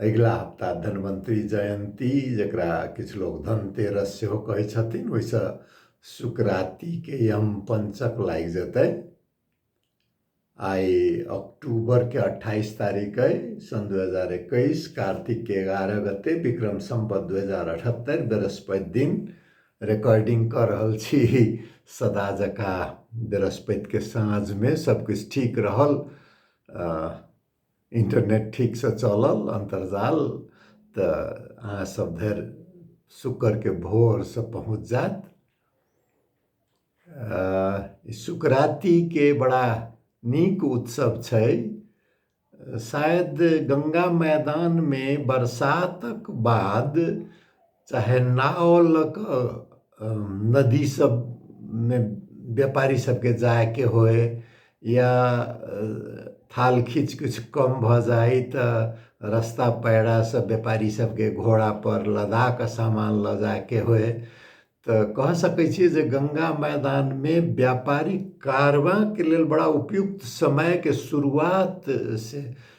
अगिला हप्ता धन्वन्तरी जयन्ती जकरा किछु लोक धनतेरस सेहो कहै छथिन ओहिसँ सुकरातीके यम पंचक लागि जेतै आइ अक्टूबरके अट्ठाइस तारीख अइ सन् दू हजार एकैस कार्तिकके एगारह गते विक्रम सम्बत दू हजार अठहत्तरि बृहस्पति दिन रिकॉर्डिंग कऽ रहल छी सदा जकाँ बृहस्पतिके साँझमे सभकिछु ठीक रहल इन्टरनेट ठीकसँ चलल अन्तर्जाल तऽ अहाँ सब धरि शुक्रके भोरसँ पहुँच जायत शुक्रातिके बड़ा नीक उत्सव छै शायद गंगा मैदानमे बरसातक बाद चाहे नाव लऽ कऽ नदी सबमे व्यापारी सबके जायके होय या थाल खींच किछु कम भऽ जाय तऽ रस्ता पैरा सब व्यापारी सबके घोड़ा पर लदा कऽ सामान लऽ जायके होय तऽ कह सकैत छियै जे गंगा मैदानमे व्यापारिक कारबाँके लेल बड़ा उपयुक्त समयके शुरुआत से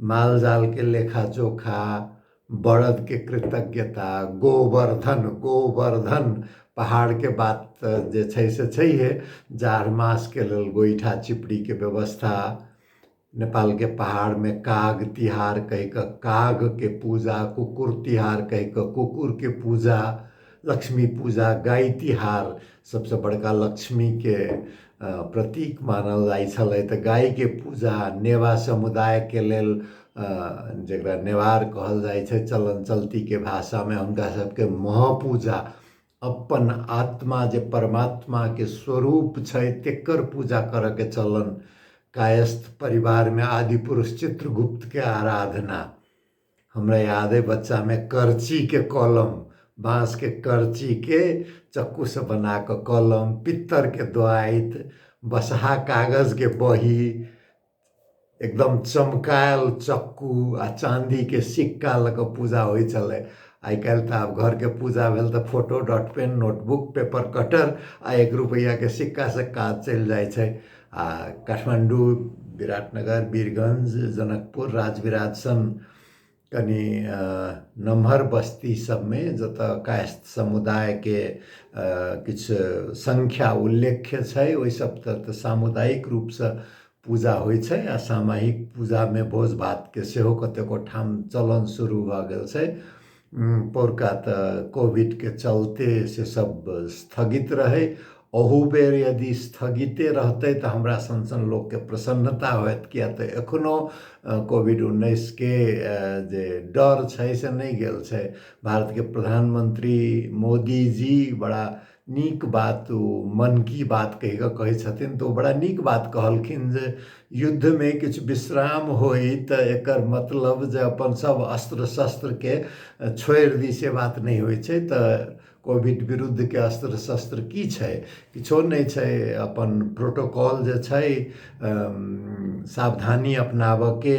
मालजालके लेखाजोखा, बड़दके कृतज्ञता, गोवर्धन गोवर्धन पहाडके बात त जे छै से छैहे । जाड मासके लेल गोइठा चिपडीके व्यवस्था, नेपालके पहाडमे काग तिहार कहिके कागके पूजा, कुकुर तिहार कहिके कुकुरके पूजा । लक्ष्मी पूजा गाय तिहार सबसँ बड़का लक्ष्मीके प्रतीक मानल जाइ छलै तऽ गायके पूजा नेवा समुदायके लेल जकरा नेवार कहल जाइ छै चलन चलतीके भाषामे हुनका सबके महापूजा अपन आत्मा जे परमात्माके स्वरूप छै तेकर पूजा करऽके चलन कायस्थ परिवारमे आदि पुरुष चित्रगुप्तके आराधना हमरा याद अइ बच्चामे करचीके कलम बाँसके करचीके चक्कूसँ बना कऽ कलम पित्तरके द्वाइत बसहा कागजके बही एकदम चमकायल चक्कू आ चाँदीके सिक्का लऽ कऽ पूजा होइ छलै आइ काल्हि तऽ आब घरके पूजा भेल तऽ photo dot pen notebook paper cutter आ एक रुपैआके सिक्कासँ काज चलि जाइ छै काठमाडौँ विराटनगर वीरगन्ज जनकपुर राजविराजसन कनि नमहर बस्ती सबमे जतऽ कायस्थ समुदायके किछु संख्या उल्लेख्य छै ओहि सब तऽ सामुदायिक रूपसँ पूजा होइ छै आ सामायिक पूजामे भोज भातके सेहो कतेको ठाम चलन शुरू भऽ गेल छै पोरका त कोभिड के चलते से सब स्थगित रहै ओहू बेर यदि स्थगिते रहतै त हमरा सन सन लोक के प्रसन्नता होयत किया त एखनो कोभिड उन्नैस के जे डर छै से नै गेल छै भारत के प्रधानमंत्री मोदी जी बड़ा नीक बात ओ मन की बात कहि कऽ कहै छथिन तऽ ओ बड़ा नीक बात कहलखिन जे युद्धमे किछु विश्राम होइ तऽ एकर मतलब जे अपन सभ अस्त्र शस्त्रके छोड़ि दी से बात नहि होइ छै तऽ कोविड विरुद्धके अस्त्र शस्त्र की छै किछो नहि छै अपन प्रोटोकॉल जे छै सावधानी अपनाबयके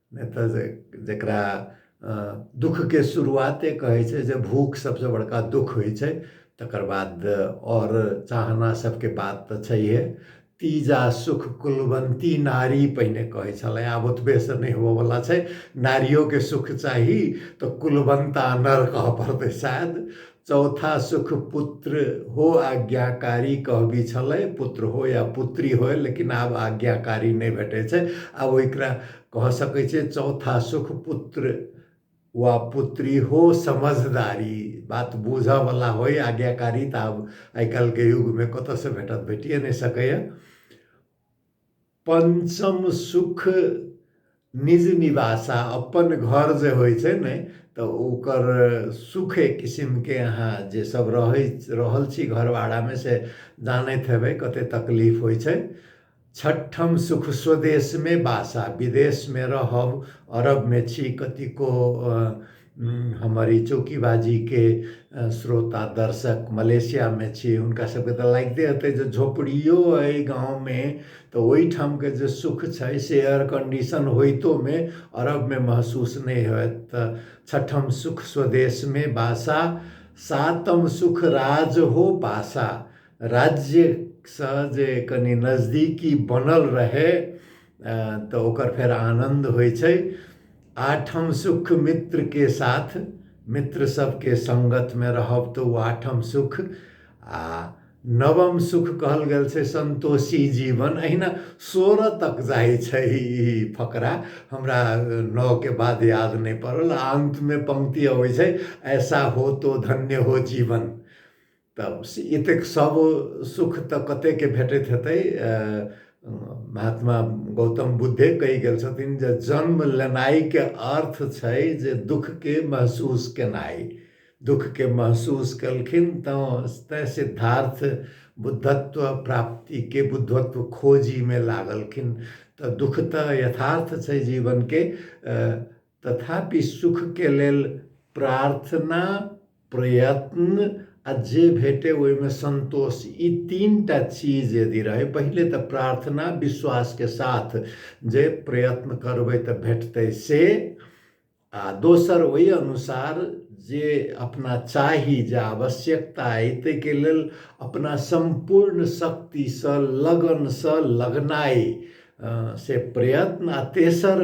नहि तऽ जे जकरा दुखके शुरुआते कहै छै जे भूख सबसँ बड़का दुख होइ छै तकर बाद आओर चाहना सबके बात तऽ छैहे तीजा सुख कुलवन्ती नारी पहिने कहै छलै आब ओतबेसँ नहि होबऽवला छै नारियोके सुख चाही तऽ कुलवन्ता नर कहऽ पड़तै शायद चौथा सुख पुत्र हो आज्ञाकारी कहबी छलै पुत्र हो या पुत्री हो लेकिन आब आज्ञाकारी नहि भेटै छै आब ओकरा कह सकै छै चौथा सुख पुत्र वा पुत्री हो समझदारी बात बुझयवला होय आज्ञाकारी तऽ आब आइ काल्हिके युगमे कतयसँ भेटत भेटिए नहि सकैए पंचम सुख निज निवासा अपन घर जे होइ छै ने तऽ ओकर सुख एक किसिमके अहाँ जे सब रहै रहल छी घरवाड़ामे से जानैत हेबै कते तकलीफ होइ छै छठम सुख स्वदेशमे बासा विदेशमे रहब अरबमे छी कतिको हमर ई चौकीबाजीके श्रोता दर्शक मलेशियामे छी हुनका सबके तऽ लागिते हेतै जे झोपड़ियो अइ गाँवमे तऽ ओइठामके जे सुख छै से एयर कन्डिशन होइतोमे अरबमे महसूस नहि होयत तऽ छठम सुख स्वदेशमे बासा सातम सुख राज हो पासा राज्यसँ जे कनि नजदीकी बनल रहै तऽ ओकर फेर आनन्द होइ छै आठम सुख मित्र के साथ मित्र सबके संगत में रहब तो ओ आठम सुख आ नवम सुख कहल गेल छै संतोषी जीवन अहिना सोरह तक जाइ छै ई फकरा हमरा नओ के बाद याद नहि पड़ल आ अंत में पंक्ति अबै छै ऐसा हो तो धन्य हो जीवन तब से एतेक सब सुख तऽ कतेक भेटैत हेतै महात्मा गौतम बुद्धे कहि गेल छथिन जे जन्म लेनाइके अर्थ छै जे दुःखके महसूस केनाइ दुःखके महसूस केलखिन तऽ तैँ सिद्धार्थ बुद्धत्व प्राप्तिके बुद्धत्व खोजीमे लागलखिन तऽ दुःख तऽ यथार्थ छै जीवनके तथापि सुखके लेल प्रार्थना, प्रयत्न आ जे भेटै ओहिमे संतोष ई तीनटा चीज यदि रहै, पहिले त प्रार्थना विश्वासके साथ जे प्रयत्न करबै त भेटतै से आ दोसर ओहि अनुसार जे अपना चाही जे आवश्यकता अइ ताहिके लेल अपना सम्पूर्ण शक्तिसँ, लगनसँ, लगनाइ से प्रयत्न आ तेसर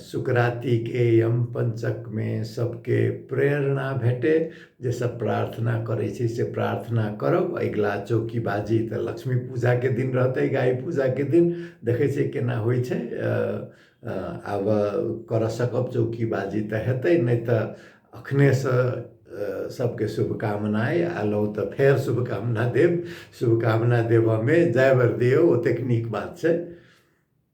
सुकरातीके यम पञ्चकमे सबके प्रेरणा भेटे जे सब प्रार्थना करै छै से प्रार्थना करब अगिला चौकी बाजी तऽ लक्ष्मी पूजाके दिन रहतै गाय पूजाके दिन देखै छै केना होइ छै आब करऽ सकब चौकी बाजी तऽ हेतै नहि तऽ अखनेसँ सबके शुभकामना अइ आलहुँ तऽ फेर शुभकामना देब शुभकामना देबऽमे जय बरदियो ओतेक नीक बात छै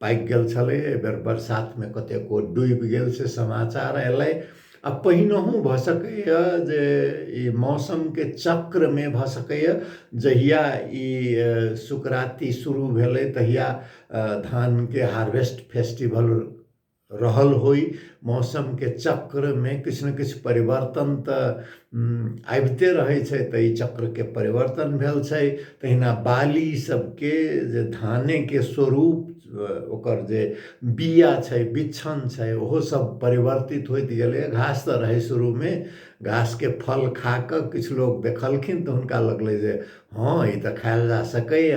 पाकि गेल छलै एहि बेर बरसातमे कतेको डूबि गेल से समाचार अयलै आ पहिनहु भऽ सकैए जे ई मौसमके चक्रमे भऽ सकैए जहिया ई सुकराती शुरू भेलै तहिया धानके हार्वेस्ट फेस्टिवल रहल होइ मौसमके चक्रमे किछु ने किछु परिवर्तन तऽ आबिते रहै छै तऽ ई चक्रके परिवर्तन भेल छै तहिना बाली सबके जे धानेके स्वरूप ओकर जे बिया छै बिच्छन छै ओहो सब परिवर्तित होइत गेलै घास तऽ रहै शुरूमे घासके फल खाकऽ किछु लोक देखलखिन तऽ हुनका लगलै जे हँ ई तऽ खायल जा सकैय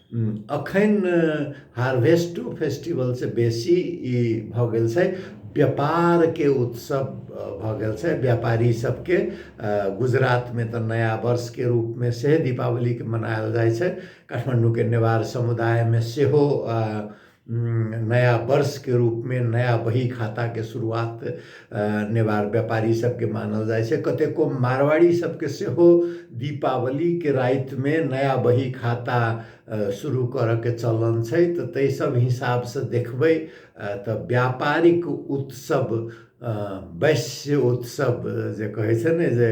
अखन हार्वेस्टो फेस्टिवल से बेसी ई भऽ गेल छै व्यापारके उत्सव भऽ गेल छै व्यापारी सबके गुजरातमे तऽ नया वर्षके रूपमे से दीपावलीके मनायल जाइ छै काठमाण्डूके नेवार समुदायमे सेहो नया वर्षके रूपमे नया बही खाताके शुरुआत नेवार व्यापारी सबके मानल जाइ छै कतेको मारवाड़ी सबके सेहो दीपावलीके रातिमे नया बही खाता शुरू करऽके चलन छै तऽ ताहि सब हिसाबसँ देखबै तऽ व्यापारिक उत्सव वैश्य उत्सव जे कहै छै ने जे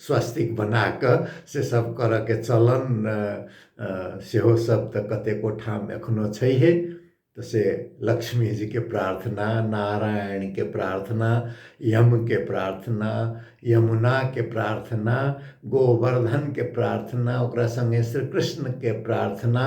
स्वस्तिक बना कऽ से सभ करयके चलन सेहो सभ तऽ कतेको ठाम एखनो छैहे तऽ से लक्ष्मी जीके प्रार्थना नारायणके प्रार्थना यमके प्रार्थना यमुनाके प्रार्थना गोवर्धनके प्रार्थना ओकरा सङ्गे श्री कृष्णके प्रार्थना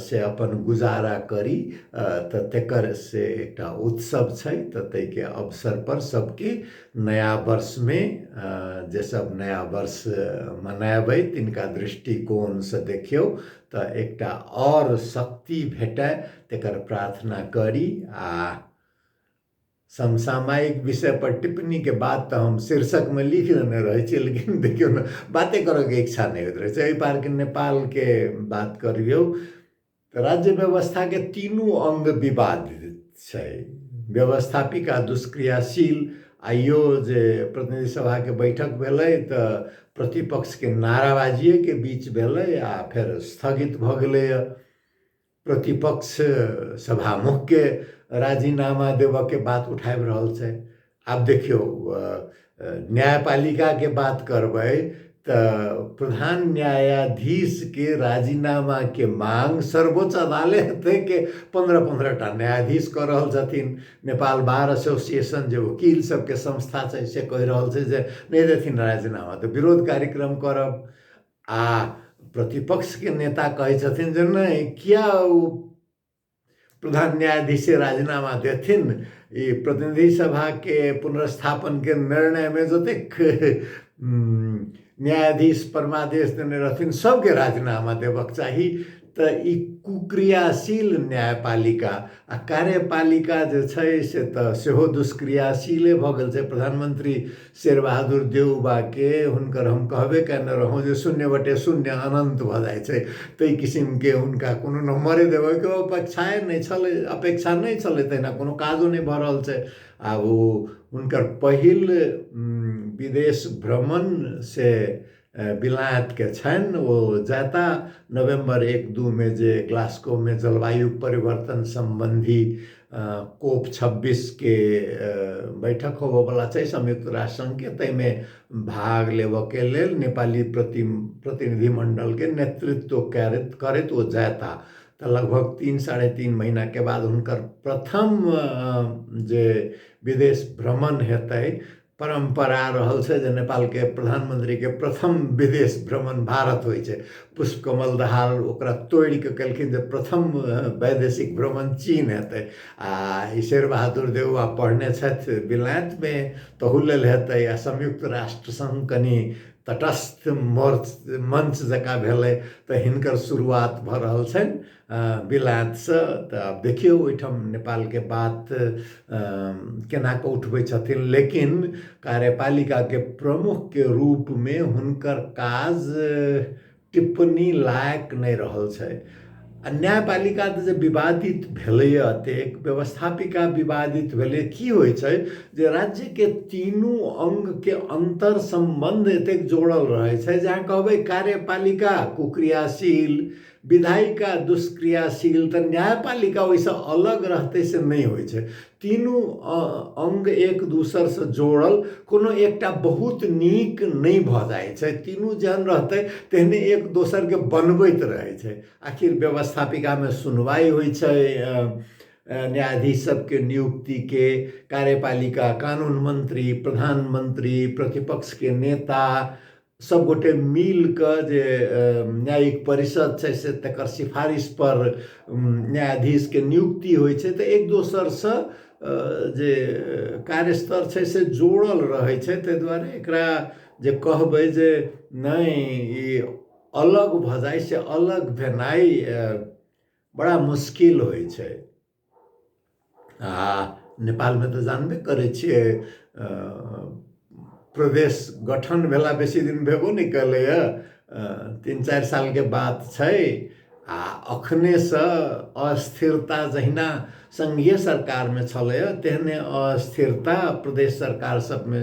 से अपन गुजारा करी तऽ तेकर से एकटा उत्सव छै तऽ ताहिके अवसर पर सबके नया वर्षमे जे सब नया वर्ष मनाबै तिनका दृष्टिकोणसँ देखियौ तऽ एकटा आओर शक्ति भेटय तेकर प्रार्थना करी आ समसामयिक विषय पर टिप्पणी के बात तऽ हम शीर्षक में लिख लेने रहे छी लेकिन देखियो ने बाते करे के इच्छा नहीं होत रहे छै पार के नेपाल के बात करियो तऽ राज्य व्यवस्था के तीनू अंग विवादित छै व्यवस्थापिक आ दुष्क्रियाशील आइयो जे प्रतिनिधि सभा के बैठक भेले तऽ प्रतिपक्ष के नाराबाजिये के बीच भेले आ फेर स्थगित भऽ गेले प्रतिपक्ष सभामुखके राजीनामा देबऽके बात उठाबि रहल छै आब देखियौ न्यायपालिकाके बात करबै तऽ प्रधान न्यायाधीशके राजीनामाके मांग सर्वोच्च अदालतके पन्द्रह पन्द्रह टा न्यायाधीश कऽ रहल छथिन नेपाल बार एसोसिएशन जे वकील सबके संस्था छै से कहि रहल छै जे नहि देथिन राजीनामा तऽ विरोध कार्यक्रम करब आ प्रतिपक्षके नेता कहै छथिन जे नहि किया ओ प्रधान न्यायाधीश राजीनामा देथिन ई प्रतिनिधि सभाके पुनर्स्थापनके निर्णयमे जतेक न्यायाधीश परमादेश देने रहथिन सभके राजीनामा देबक चाही तऽ ई कुक्रियाशील न्यायपालिका आ कार्यपालिका जे छै से तऽ सेहो दुष्क्रियाशीले भऽ गेल छै प्रधानमंत्री शेरबहादुर देउबाके हुनकर हम कहबे कयने रहौं जे शून्य बटे शून्य अनन्त भऽ जाइ छै ताहि किसिमके हुनका कोनो नम्बरे देबै के अपेक्षाए नहि छलै अपेक्षा नहि छलै तहिना कोनो काजो नहि भऽ रहल छै आब ओ हुनकर पहिल विदेश भ्रमण से बिलायतके छनि ओ जाता नवम्बर एक दूमे जे ग्लास्कोमे जलवायु परिवर्तन सम्बन्धी कोप छब्बीसके बैठक होबऽवला छै संयुक्त राष्ट्र सङ्घके ताहिमे भाग लेबऽके लेल नेपाली प्रति प्रतिनिधि मण्डलके नेतृत्व करैत करैत ओ जाता तऽ लगभग तीन साढ़े तीन महीनाके बाद हुनकर प्रथम जे विदेश भ्रमण हेतै परम्परा रहल छै जे नेपालके प्रधानमन्त्रीके प्रथम विदेश भ्रमण भारत होइ छै पुष्प कमल दहाल ओकरा तोड़ि कऽ कहलखिन जे प्रथम वैदेशिक भ्रमण चीन हेतै आ ई शेर बहादुर देउआ पढ़ने छथि विलायतमे तहू लेल हेतै आ संयुक्त राष्ट्र सङ्ग कनि तटस्थ मोर्च मंच जकाँ भेलै तऽ हिनकर शुरुआत भऽ रहल छनि अँ, बिलायतसँ तऽ आब देखियौ ओहिठाम नेपालके बात केना कऽ उठबै छथिन लेकिन कार्यपालिकाके प्रमुखके रूपमे हुनकर काज टिप्पणी लायक नहि रहल छै आ न्यायपालिका तऽ जे विवादित भेलैए एतेक व्यवस्थापिका विवादित भेलै की होइ छै जे राज्यके तीनू अङ्गके अन्तर सम्बन्ध एतेक जोड़ल रहै छै जे अहाँ कहबै कार्यपालिका कुक्रियाशील विधायिका दुष्क्रियाशील तऽ न्यायपालिका ओहिसँ अलग रहतै से नहि होइ छै तीनू अङ्ग एक दोसरसँ जोड़ल कोनो एकटा बहुत नीक नहि भऽ जाइ छै तीनू जहन रहतै तेहने एक दोसरके बनबैत रहै छै आखिर व्यवस्थापिकामे सुनवाइ होइ छै न्यायाधीश सबके नियुक्तिके कार्यपालिका कानून मन्त्री प्रधानमन्त्री प्रतिपक्षके नेता सब गोटे मिल के जे न्यायिक परिषद छै से तकर सिफारिश पर न्यायाधीश के नियुक्ति होइ छै तऽ एक दोसर से जे कार्यस्तर छै से जोड़ल रहै छै ताहि दुआरे एकरा जे कहबै जे नहि ई अलग भऽ जाइ से अलग भेनाइ बड़ा मुश्किल होइ छै आ नेपालमे तऽ जानबे करै छियै प्रदेश गठन भेला बेसी दिन भेबो नहि कयलैए तीन चारि सालके बात छै आ एखनेसँ अस्थिरता जहिना संघीय सरकारमे छलैए तेहने अस्थिरता प्रदेश सरकार सभमे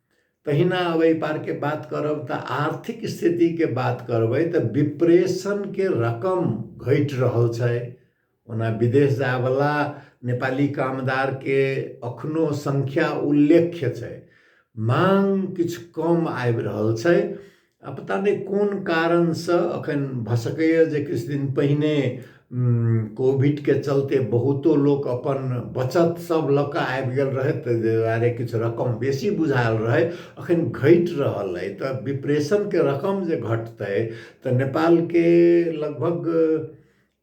तहिना अब एहि पारके बात करब तऽ आर्थिक स्थितिके बात करबै तऽ विप्रेशनके रकम घटि रहल छै ओना विदेश जायवला नेपाली कामदारके एखनो संख्या उल्लेख्य छै मांग किछु कम आबि रहल छै आ पता नहि कोन कारणसँ एखन भऽ सकैए जे किछु दिन पहिने कोविडके चलते बहुतो लोक अपन बचत सब लऽ कऽ आबि गेल रहथि ताहि दुआरे किछु रकम बेसी बुझायल रहै अखन घटि रहल अइ तऽ विप्रेशनके रकम जे घटतै तऽ नेपालके लगभग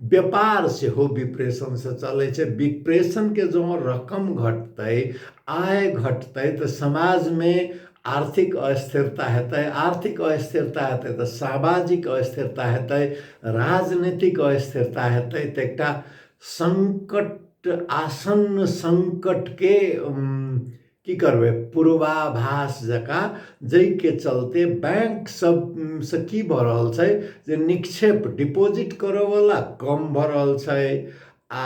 व्यापार सेहो विप्रेशनसँ चलै छै विप्रेशनके जँ रकम घटतै आय घटतै तऽ समाजमे आर्थिक अस्थिरता हेतै आर्थिक अस्थिरता हेतै तऽ सामाजिक अस्थिरता हेतै राजनीतिक अस्थिरता हेतै तऽ एकटा सङ्कट आसन्न सङ्कटके की करबै पूर्वाभास जकाँ जाहिके चलते बैंक सबसँ की भऽ रहल छै जे निक्षेप डिपोजिट करऽवला कम भऽ रहल छै आ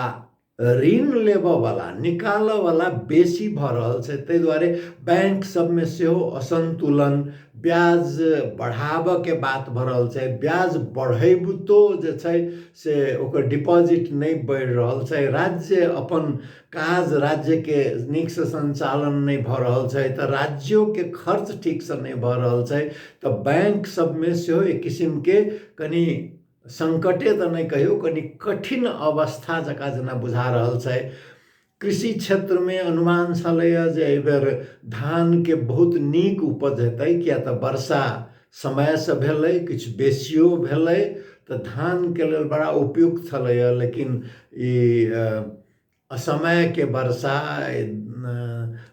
ऋण लेबऽवला निकालऽवला बेसी भऽ रहल छै ताहि दुआरे बैंक सबमे सेहो असन्तुलन ब्याज बढ़ाबऽके बात भऽ रहल छै ब्याज बढ़ैबितो जे छै से ओकर डिपोजिट नहि बढ़ि रहल छै राज्य अपन काज राज्यके नीकसँ सञ्चालन नहि भऽ रहल छै तऽ राज्योके खर्च ठीकसँ नहि भऽ रहल छै तऽ बैंक सभमे सेहो एक किसिमके कनि सङ्कटे तऽ नहि कहियौ कनि कठिन अवस्था जकाँ जेना बुझा रहल छै कृषि क्षेत्रमे अनुमान छलैए जे एहिबेर धानके बहुत नीक उपज हेतै किएक तऽ वर्षा समयसँ भेलै किछु बेसियो भेलै तऽ धानके लेल बड़ा उपयुक्त छलैए लेकिन ई असमयके वर्षा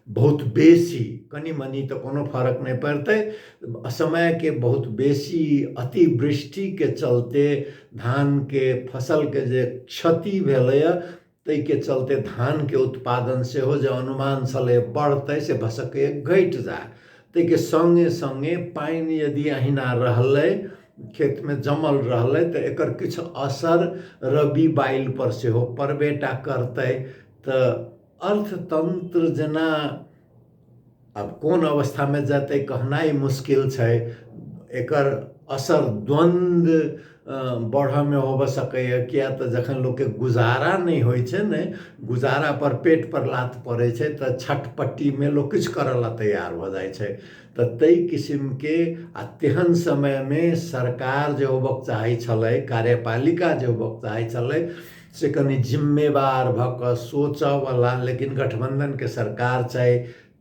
बहुत बेसी कनि मनि तऽ कोनो फर्क नहि पड़तै असमयके बहुत बेसी अतिवृष्टिके चलते धानके फसलके जे क्षति भेलैए ताहि के चलते धान के उत्पादन से हो जे अनुमान छले बढ़ते से भऽ सकैए घटि जाय ताहि के संगे संगे पानि यदि अहिना रहलै खेत में जमल रहलै तऽ एकर किछु असर रबी बाइल पर सेहो पड़बेटा करतै तऽ अर्थतंत्र जेना अब कोन अवस्थामे जेतै कहनाइ मुश्किल छै एकर असर द्वन्द्व बढ़ऽमे होबऽ सकैए किया तऽ जखन लोकके गुजारा नहि होइ छै ने गुजारापर पेटपर लात पड़ै छै तऽ छटपट्टीमे लोक किछु करऽ लए तैयार भऽ जाइ छै तऽ ताहि किसिमके आ तेहन समयमे सरकार जे होबक चाहै छलै कार्यपालिका जे होबक चाहै छलै से कनि जिम्मेवार भऽ कऽ सोचऽवला लेकिन गठबन्धनके सरकार छै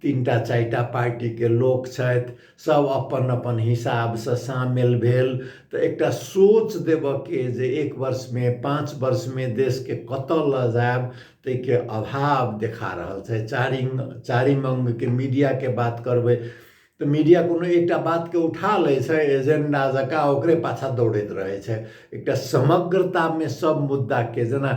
तीनटा चारिटा पार्टीके लोक छथि सब अपन अपन हिसाबसँ सामेल भेल तऽ एकटा सोच देबऽके जे एक वर्षमे पाँच वर्षमे देशके कतऽ लऽ जायब ताहिके अभाव देखा रहल छै चारिम चारिम अङ्गके मीडियाके बात करबै तऽ मीडिया कोनो एकटा बातके उठा लै छै एजेंडा जकाँ ओकरे पाछा दौड़ैत रहै छै एकटा समग्रतामे सब मुद्दाके जेना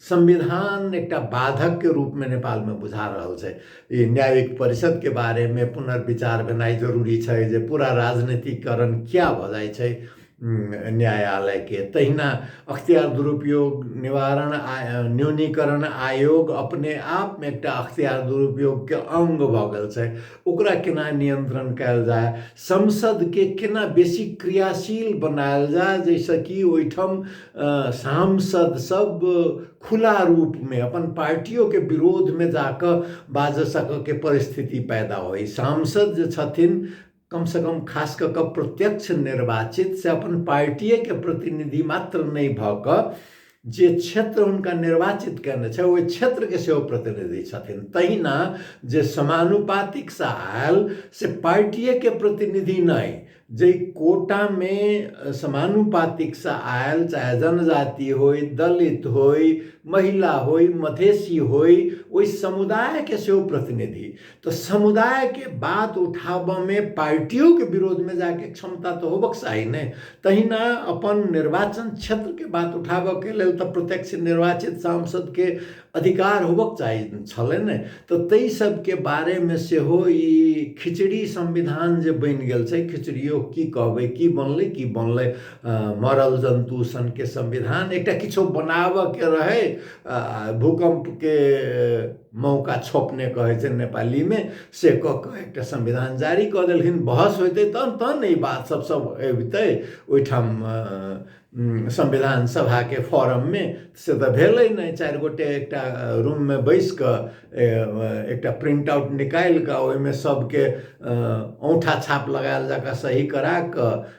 संविधान एकटा बाधकके रूपमे नेपालमे बुझा रहल छै ई न्यायिक परिषदके बारेमे पुनर्विचार भेनाइ जरूरी छै जे पूरा राजनीतिकरण किया भऽ जाइ छै न्यायालय के तहिना अख्तियार दुरुपयोग निवारण आ न्यूनीकरण आयोग अपने आप में एकटा अख्तियार दुरुपयोग के अंग भ गेल छै ओकरा केना नियंत्रण कयल जाय संसद के केना बेसी क्रियाशील बनायल जाय जैसे कि ओहिठाम सांसद सब खुला रूप में अपन पार्टियों के विरोध में जाके बाज सके के परिस्थिति पैदा होय सांसद जे छथिन कम से कम खास कऽ कऽ प्रत्यक्ष निर्वाचित से अपन पार्टिए के प्रतिनिधि मात्र नहि भऽ कऽ जे क्षेत्र हुनका निर्वाचित कयने छै ओहि क्षेत्रके सेहो प्रतिनिधि छथिन तहिना जे समानुपातिक से आयल से पार्टिएके प्रतिनिधि नहि जाहि कोटामे समानुपातिक से आयल चाहे जनजाति होय दलित होय महिला होय मधेसी होय ओहि समुदायके सेहो प्रतिनिधि तऽ समुदायके बात उठाबऽमे पार्टियोके विरोधमे जाइके क्षमता तऽ होबक चाही ने तहिना अपन निर्वाचन क्षेत्रके बात उठाबऽके लेल तऽ प्रत्यक्ष निर्वाचित सांसदके अधिकार होबक चाही छलै ने तऽ ताहि सबके बारेमे सेहो ई खिचड़ी संविधान जे बनि गेल छै खिचड़ियो की कहबै की बनलै की बनलै मरल जन्तु सनके संविधान एकटा किछो बनाबऽके रहै भूकम्पके मौका छोपने कहै छै नेपालीमे से कऽ कऽ एकटा संविधान जारी कऽ देलखिन बहस होइतै तहन तहन ने ई बात सब सब अबितै ओहिठाम संविधान सभाके फॉरममे से तऽ भेलै नहि चारि गोटे एकटा रूममे बैसि कऽ एकटा प्रिंट आउट निकालि कऽ ओहिमे सबके औंठा छाप लगायल जकाँ सही करा कऽ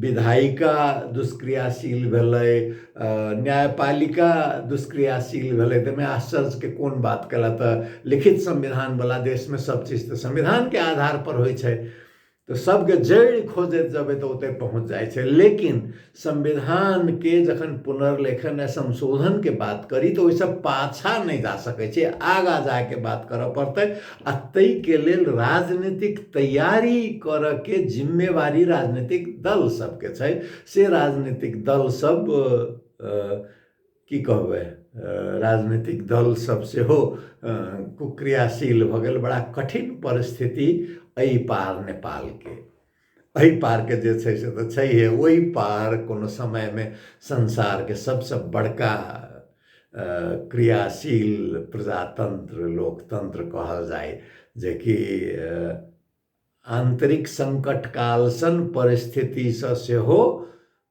विधायिका दुष्क्रियाशील भेलै न्यायपालिका दुष्क्रियाशील भेलै ताहिमे आश्चर्यके कोन बात कला तऽ लिखित संविधानवला देशमे सब चीज तऽ संविधानके आधारपर होइ छै तऽ सबके जड़ि खोजैत जेबै तऽ ओतय पहुँच जाइ छै लेकिन संविधानके जखन पुनर्लेखन आ संशोधनके बात करी तऽ ओहिसँ पाछाँ नहि जा सकै छी आगाँ जाके बात करऽ पड़तै आ तई के लेल राजनीतिक तैयारी करऽ के जिम्मेवारी राजनीतिक दल सब के छै से राजनीतिक दल सब की कहबे राजनीतिक दल सब से हो कुक्रियाशील भगल बड़ा कठिन परिस्थिति अई पार नेपाल के एहि पारके जे छै से तऽ छैहे ओहि पार कोनो समयमे संसारके सबसँ बड़का क्रियाशील प्रजातंत्र लोकतंत्र कहल जाय जेकि आंतरिक संकट कालसन परिस्थितिसँ सेहो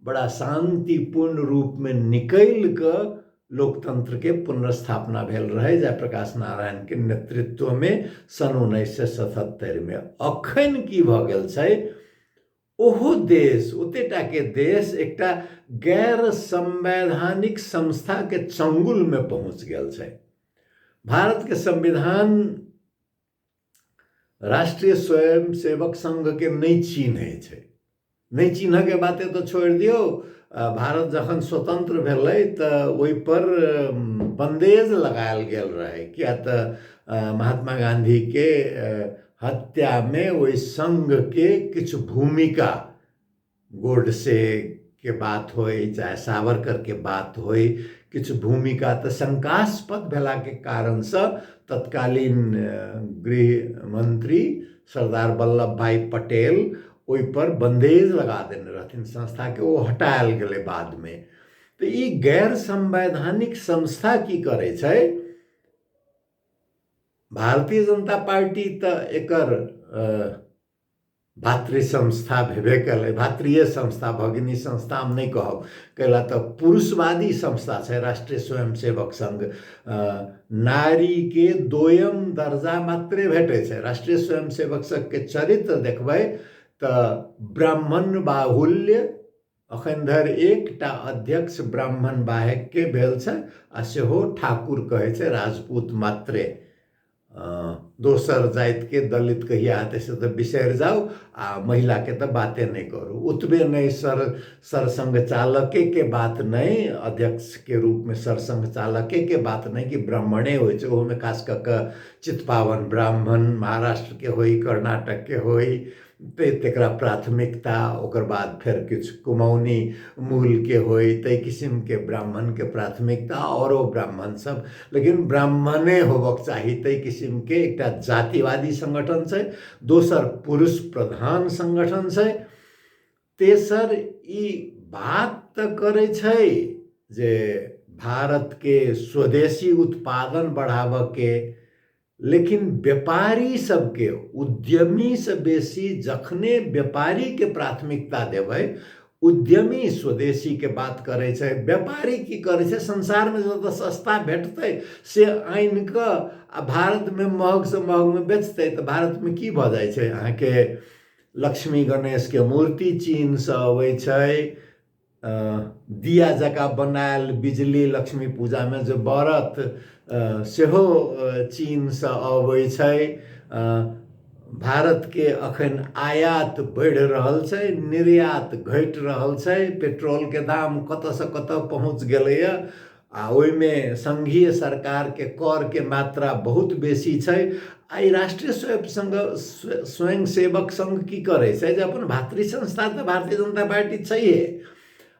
बड़ा शान्तिपूर्ण रूपमे निकलि कऽ लोकतन्त्रके पुनर्स्थापना भेल रहै जय प्रकाश नारायणके नेतृत्वमे सन् उन्नैस सए सतहत्तरिमे अखन की भऽ गेल छै ओहो देश ओतेटाके देश एकटा गैर संवैधानिक संस्थाके चंगुलमे पहुँच गेल छै भारतके संविधान राष्ट्रीय स्वयं सेवक संघ के नहीं चिन्हे छै नहीं चिन्ह के बाते तो छोड़ दियो भारत जखन स्वतंत्र भेलै तऽ ओहि पर बंदेज लगायल गेल रहै किया तऽ महात्मा गांधी के हत्या में ओहि संघ के किछु भूमिका गोडसेके बात होइ चाहे सावरकरके बात होइ किछु भूमिका तऽ शङ्कास्पद भेलाके कारणसँ तत्कालीन गृहमन्त्री सरदार वल्लभ भाइ पटेल ओहिपर बन्देज लगा देने रहथिन संस्थाके ओ हटायल गेलै बादमे तऽ ई गैर संवैधानिक संस्था की करै छै भारतीय जनता पार्टी तऽ एकर भातृ संस्था भेबे कयलै भातृय संस्था भगिनी संस्था हम नहि कहब कैला तऽ पुरुषवादी संस्था छै राष्ट्रीय स्वयंसेवक संघ नारीके दोयम दर्जा मात्रे भेटै छै राष्ट्रीय स्वयंसेवक संघके चरित्र देखबै तऽ ब्राह्मण बाहुल्य अखन धरि एकटा अध्यक्ष ब्राह्मण बाहेकके भेल छै आ सेहो ठाकुर कहै छै राजपूत मात्रे दोसर जातिके दलित कहिया हेतै से तऽ बिसरि जाउ आ महिलाके तऽ बाते नहि करू ओतबे नहि सर सरसङ्घ चालकेके बात नहि अध्यक्षके रूपमे सरसङ्घ चालकेके बात नहि कि ब्राह्मणे होइ छै ओहोमे खास कऽ कऽ चितपावन ब्राह्मण महाराष्ट्रके होइ कर्नाटकके होइ तैं तेकरा प्राथमिकता ओकर बाद फेर किछु कुमौनी मूलके होइ ताहि किसिमके ब्राह्मणके प्राथमिकता आओर ओ ब्राह्मण सब लेकिन ब्राह्मणे होबक चाही ताहि किसिमके एकटा जातिवादी संगठन छै दोसर पुरुष प्रधान संगठन छै तेसर ई बात तऽ करै छै जे भारतके स्वदेशी उत्पादन बढ़ाबऽके लेकिन व्यापारी सबके उद्यमीसँ बेसी जखने व्यापारीके प्राथमिकता देबै उद्यमी स्वदेशीके बात करै छै व्यापारी की करै छै संसारमे जतऽ सस्ता भेटतै से आनि कऽ आ भारतमे महगसँ महगमे बेचतै तऽ भारतमे की भऽ जाइ छै अहाँके लक्ष्मी गणेशके मूर्ति चीनसँ अबै छै दिया जकाँ बनायल बिजली लक्ष्मी पूजामे जे बरत सेहो चीनसँ अबै छै भारतके अखन आयात बढ़ि रहल छै निर्यात घटि रहल छै पेट्रोलके दाम कतऽसँ कतऽ पहुँच गेलैए आ ओहिमे संघीय सरकारके करके मात्रा बहुत बेसी छै आ ई राष्ट्रीय स्वयं संघ स्वयं सेवक संघ की करै छै जे अपन भातृ संस्था तऽ भारतीय जनता पार्टी छैहे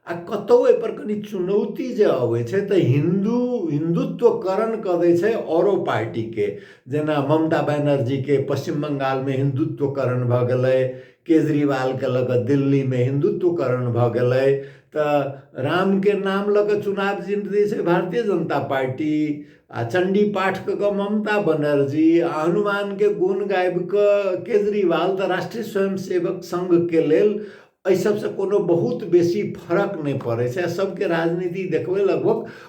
आ कतहु एहिपर कनि चुनौती जे अबै छै तऽ हिन्दू हिन्दुत्वकरण कऽ दै छै औरो पार्टीके जेना ममता बनर्जीके पश्चिम बंगालमे हिन्दुत्वकरण भऽ गेलै केजरीवालके लऽ कऽ दिल्लीमे हिन्दुत्वकरण भऽ गेलै तऽ रामके नाम लऽ कऽ चुनाव जीत दै छै भारतीय जनता पार्टी आ चण्डी पाठ कऽ कऽ ममता बनर्जी आ हनुमानके गुण गाबि कऽ केजरीवाल तऽ राष्ट्रीय स्वयं सेवक संघके लेल एहि सभसँ कोनो बहुत बेसी फरक नहि पड़ै छै आ सभके राजनीति देखबै लगभग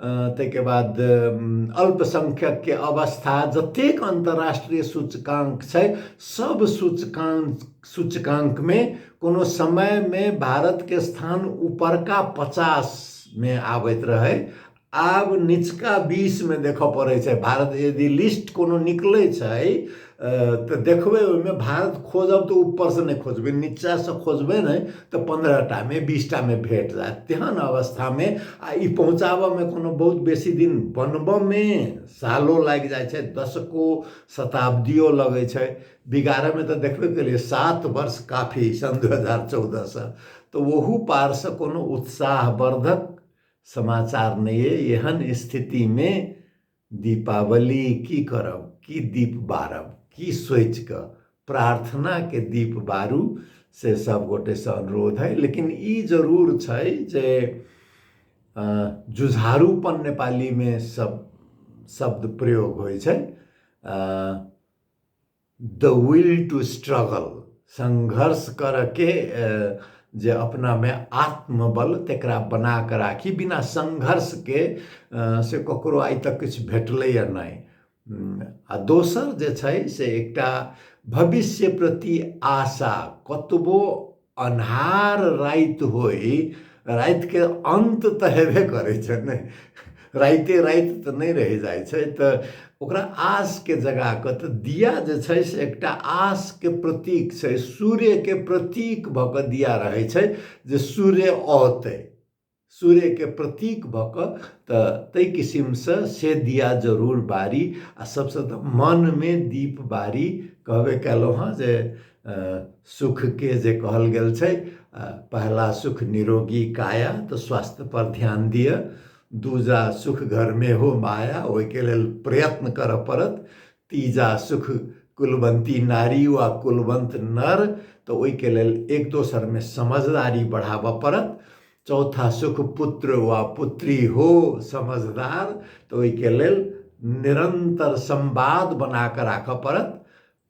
ताहिके बाद अल्पसंख्यकके अवस्था जतेक अन्तर्राष्ट्रीय सूचकाङ्क छै सभ सूचकाङ्क सूचकाङ्कमे कोनो समयमे भारतके स्थान ऊपरका पचासमे आबैत रहै आब निचका बीसमे देखय पड़ै छै भारत यदि लिस्ट कोनो निकलै छै तऽ देखबै ओहिमे भारत खोजब तऽ ऊपरसँ नहि खोजबै नीचाँसँ खोजबै ने तऽ पन्द्रह टामे बीस टामे भेट जायत तेहन अवस्थामे आ ई पहुँचाबयमे कोनो बहुत बेसी दिन बनबयमे सालो लागि जाइ छै दशको शताब्दियो लगै छै बिगाड़यमे तऽ देखबे केलियै सात वर्ष काफी सन् दू हजार चौदहसँ तऽ ओहू पारसँ कोनो उत्साहवर्धक समाचार नहि अइ एहन स्थितिमे दीपावली की करब की दीप बारब की सोचि कऽ प्रार्थनाके दीप बारू से सब गोटेसँ अनुरोध है लेकिन ई जरूर छै जे जुझारूपन नेपालीमे सब शब्द प्रयोग होइ छै द विल टू स्ट्रगल संघर्ष करके जे अपनामे आत्मबल तकरा बना कऽ राखी बिना संघर्षके से ककरो आइ तक किछु भेटलैए नहि आ दोसर जे छै से एकटा भविष्य प्रति आशा कतबो अन्हार राति होइ रातिके अन्त तऽ हेबे करै छै ने राइते राति तऽ नहि रहि जाइ छै तऽ ओकरा आसके जगा कऽ तऽ दिया जे छै से एकटा आसके प्रतीक छै सूर्यके प्रतीक भऽ कऽ दिया रहै छै जे सूर्य औतै सूर्यके प्रतीक भऽ कऽ तऽ ताहि किसिमसँ से दिया जरूर बारी आ सभसँ तऽ मनमे दीप बारी कहबे कयलहुँ हँ जे सुखके जे कहल गेल छै पहिला सुख निरोगी काया तऽ स्वास्थ्यपर ध्यान दिअ दूजा सुख घरमे हो माया ओहिके लेल प्रयत्न करय पड़त तीजा सुख कुलवंती नारी वा कुलवंत नर तऽ ओहिके लेल एक दोसरमे समझदारी बढ़ाबऽ पड़त चौथा सुख पुत्र वा पुत्री हो समझदार तऽ ओहिके लेल निरंतर संवाद बना कऽ राखऽ पड़त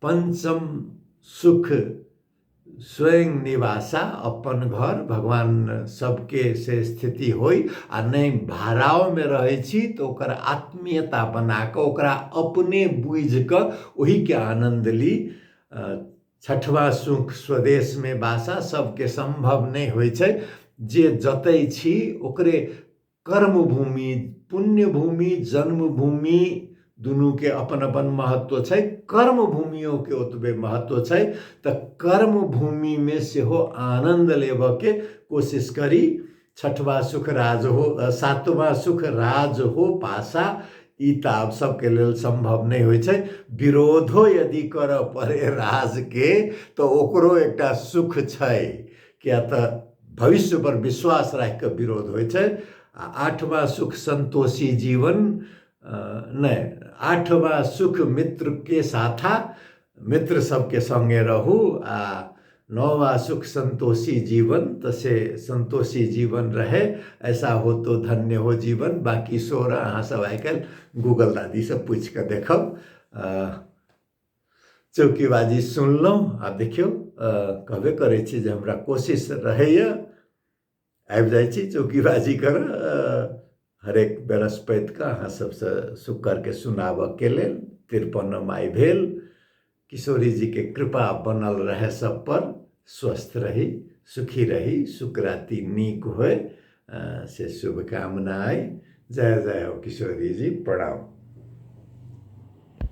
पंचम सुख स्वयं निवासा अपन घर भगवान सबके से स्थिति होइ आ नहि भाड़ाओमे रहै छी तऽ ओकर आत्मीयता बना कऽ ओकरा अपने बुझि कऽ ओहिके आनन्द ली छठवा सुख स्वदेशमे बासा सभके सम्भव नहि होइ छै जे जतय छी ओकरे कर्मभूमि पुण्यभूमि जन्मभूमि दुनूके अपन अपन महत्व छै कर्मभूमियोके ओतबे महत्व छै तऽ कर्मभूमिमे सेहो आनन्द लेबऽके कोशिश करी छठवा सुख राज हो सातवा सुख राज हो पासा ई तऽ आब सबके लेल सम्भव नहि होइ छै विरोधो यदि करऽ पड़े राजके तऽ ओकरो एकटा सुख छै किया तऽ भविष्य पर विश्वास राखि कऽ विरोध होइ छै आ आठवां सुख संतोषी जीवन नहि आठवां सुख मित्र के साथा मित्र सबके संगे रहू आ नौवा सुख संतोषी जीवन तऽ से संतोषी जीवन रहे ऐसा हो तो धन्य हो जीवन बाकी सोर अहाँ सब आइ काल्हि गूगल दादी से पूछि कऽ देखब चौकीबाजी सुनलहुँ आ देखियौ कहबे करै छी जे हमरा कोशिश रहैए आबि जाइ छी चौकीबाजी करऽ हरेक बृहस्पतिके अहाँ सभसँ शुक्रके सुनाबऽके लेल तिरपन माइ भेल किशोरीजीके कृपा बनल रहै सभपर स्वस्थ रही सुखी रही शुक्राति नीक होय से शुभकामना अइ जय जय हो किशोरीजी प्रणाम